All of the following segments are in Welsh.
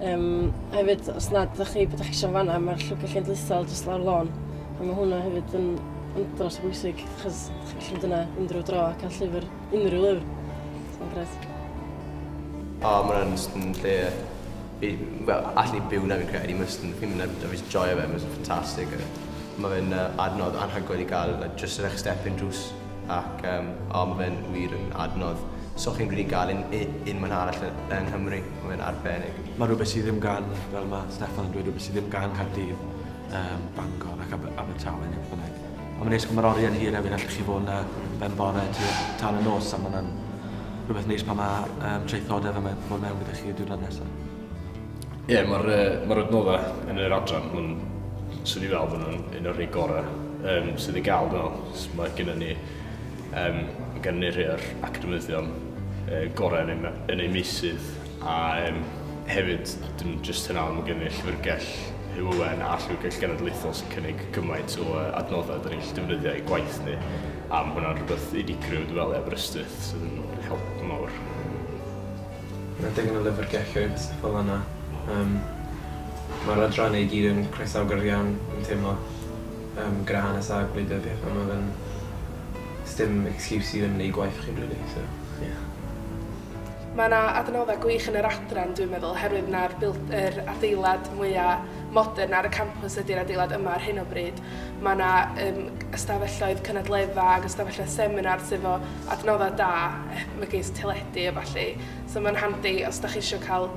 Yym, a hefyd, os nad ydych chi, beth ydych chi eisiau yn fanna, mae'r llwybr cenedlaethol jyst lawr lôn. A mae hwnna hefyd yn, yn dros o bwysig, achos ydych chi'n gallu mynd yna unrhyw dro a cael llyfr, unrhyw lyfr. Mae'n gret. O, oh, mae'n just yn lle... Fi, well, allan i byw na fi'n credu, mae'n just yn fi'n mynd a fi just joio fe, mae'n just fantastic. Mae'n uh, adnodd anhygoel i gael, like, just yn eich step-in drws. Ac yym o ma fe'n wir yn adnodd. So chi'n rili gael un, un man arall yng Nghymru, ma fe'n arbennig. Mae rhywbeth sydd ddim gan, fel mae Steffan yn dweud, rhywbeth sydd ddim gan Caerdydd, um, Bangor ac Aber Abertawe neu beth bynnag. Ond mae'n neis, mae'r oriau'n hir hefyd, allwch chi fod yna ben bore tua tan y nos a mae'n rhywbeth neis pan mae um, traethodau fel mae bod mewn gyda chi y diwrnod nesaf. Ie, yeah, mae'r uh, ma adnoddau yn yr adran hwn, swn i fel bod nhw'n un o'r rhai gorau um, sydd i gael, dwi'n meddwl. Mae gennym ni, um, gen ni rhai o'r academyddion uh, gorau yn ei, yn ei meisydd, a um, hefyd, dim jyst hynna, ond mae gen ni llyfrgell Hywen a Llyfrgell Genedlaethol sy'n cynnig gymaint o uh, adnoddau dyn ni'n llydefnyddio i gwaith ni. A mae hwnna'n rhywbeth unigryw, dwi'n meddwl, i Aberystwyth, sy'n help mawr. Mae digon o lyfrgelloedd fel yna. Yym mae'r adrannau i gyd yn croesawgar iawn, fi'n teimlo. Yym gyda hanes a gwleidyddiaeth a ma' fe'n... Sdim excuse i ddim neu' gwaith chi rili so ie. Mae 'na adnoddau gwych yn yr adran dwi'n meddwl oherwydd 'na'r built- yr adeilad mwya' modern ar y campws ydy'r adeilad yma ar hyn o bryd. Ma' 'na yym ystafelloedd cynadledda' ag ystafelloedd seminar sy 'fo adnoddau da megis teledu a ballu so mae'n handi os da chi eisiau cael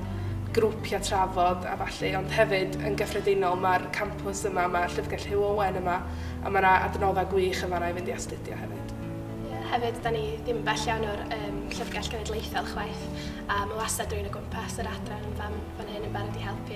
grwpiau trafod a ballu ond hefyd yn gyffredinol mae'r campws yma mae Llyfrgell Hugh Owen yma a mae yna adnoddau gwych yn fanna i fynd i astudio hefyd. Ie, hefyd da ni ddim bell iawn o'r um, Llyfrgell Genedlaethol chwaith a mae wastad rwy'n o gwmpas yr adran fan, fan hyn yn barod i helpu